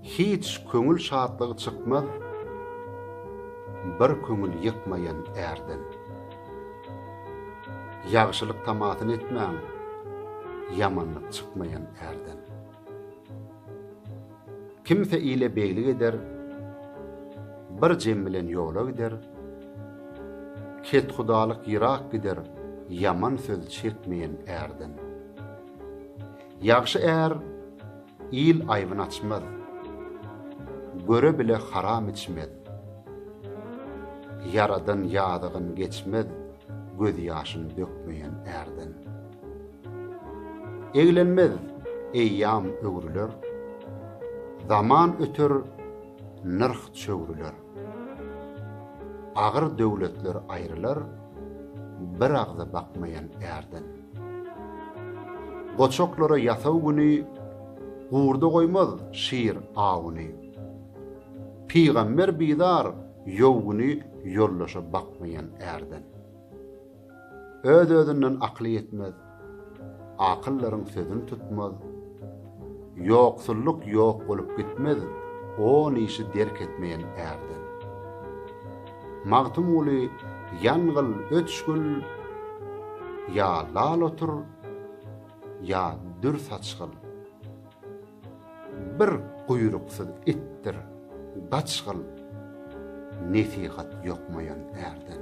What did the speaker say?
Hiç köňül şatlygy çykmaz bir köňül ýykmaýan ärden. Ýagşylyk tamasyny etmäň, ýamanlyk çykmaýan ärden. Kimse ile beglik eder, Bir jem bilen ýola gider, Kethudalyk ýyrak gider, Ýaman söz çekmeýen ärden. Ýagşy är il aýbyn açmaz, Göre bile haram içmez, Ýaradan ýadygyn geçmez, Gözýaşyn dökmeýen ärden. Eglenmez eýýam öwrüler. Zaman öter, nyrh çöwrüler. Agyr döwletler aýrylar, Bir agza bakmaýan ärden. Goçaklara ýasaw güni, Gurda goýmaz şir awuny. Pygamber bizar ýow güni Ýoldaşa bakmaýan ärden. Öz-özünden akyly ýetmez, Akyllaryň sözün tutmaz. Ýoksullyk ýok bolup gitmez, On işi derk etmeýän ärden. Magtymguly Ýangyl öçgül Ýa lal otur, ýa dür saçgyl. Bir guýruksyz itdir, gaçgyl, Nesihat ýokmaýan ärden.